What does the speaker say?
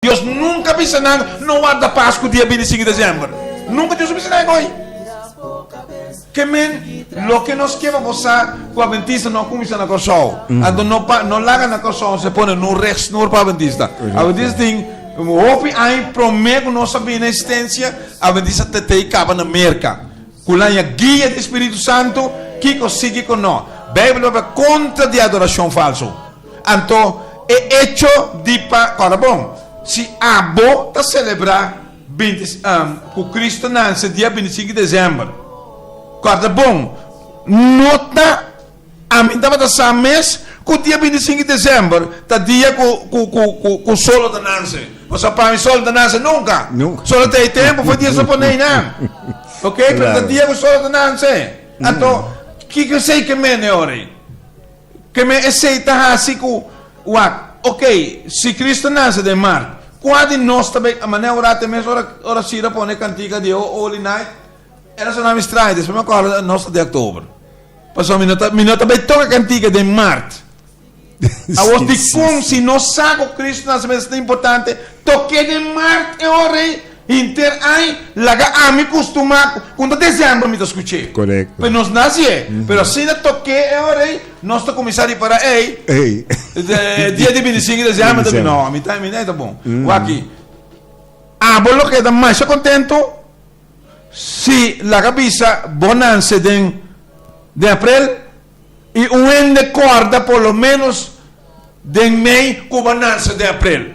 Dios nunca bisa nan no warda pas cu dia binti sinku december. Nunca Dios a bisa nan ecoi. Ke men loke nos ke pa bosa cu Adventista no a cuminsa na Corsou. Anto no pa no laga na Corsou nos a pone nun rechtsnoer pa Adventista. Adventista tin un hopi aña prome cu nos a bini na existencia. Adventista ta ta y caba na Merca. Cu laña guia di Spiritu Santo kico sigi con no. Bijbel papia contra di adoracion falso. Anto e echo di pa ora bon, si abo ta selebrá binti ku Kristu nanse dia binti sinku desèmber, ora bon no ta ami tabata sa mes ku dia binti sinku desèmber ta dia ku sol no ta nanse. Pasobra pa mi sol no ta nanse nunka. Solo ta e tempu for di e sopone einan, oke, pero ta dia ku sol no ta nanse. Anto kiko esei ke mende ora ei? Keme esei ta hasi ku, wak, ok, si Kris ta nase den mart, kua di nos ta bai mané orá te mes ora ora Sira pone e kantika di O Holy Night? E rason a mi strae, despues mi a kòrda nos ta di October. Pasobra mi no ta mi no ta bai toka e kantika den mart. Awor dikon si nos sa ku Kris nase mes ta importante, tok'é den mart e ora ei? Hinter aña laga ami cu stumaco cu no ta december mi ta scuch'e. Correcto. Pe nos naci e. Pero asina toke e ora ey nos ta cuminsa ripara ey dia di binticinco di december ta bini. No mi ta mi ta bon. Waki abo lo keda masha contento si laga bisa bo nan se den den april y un hende corda por lo menos den mey cuba nan se den april.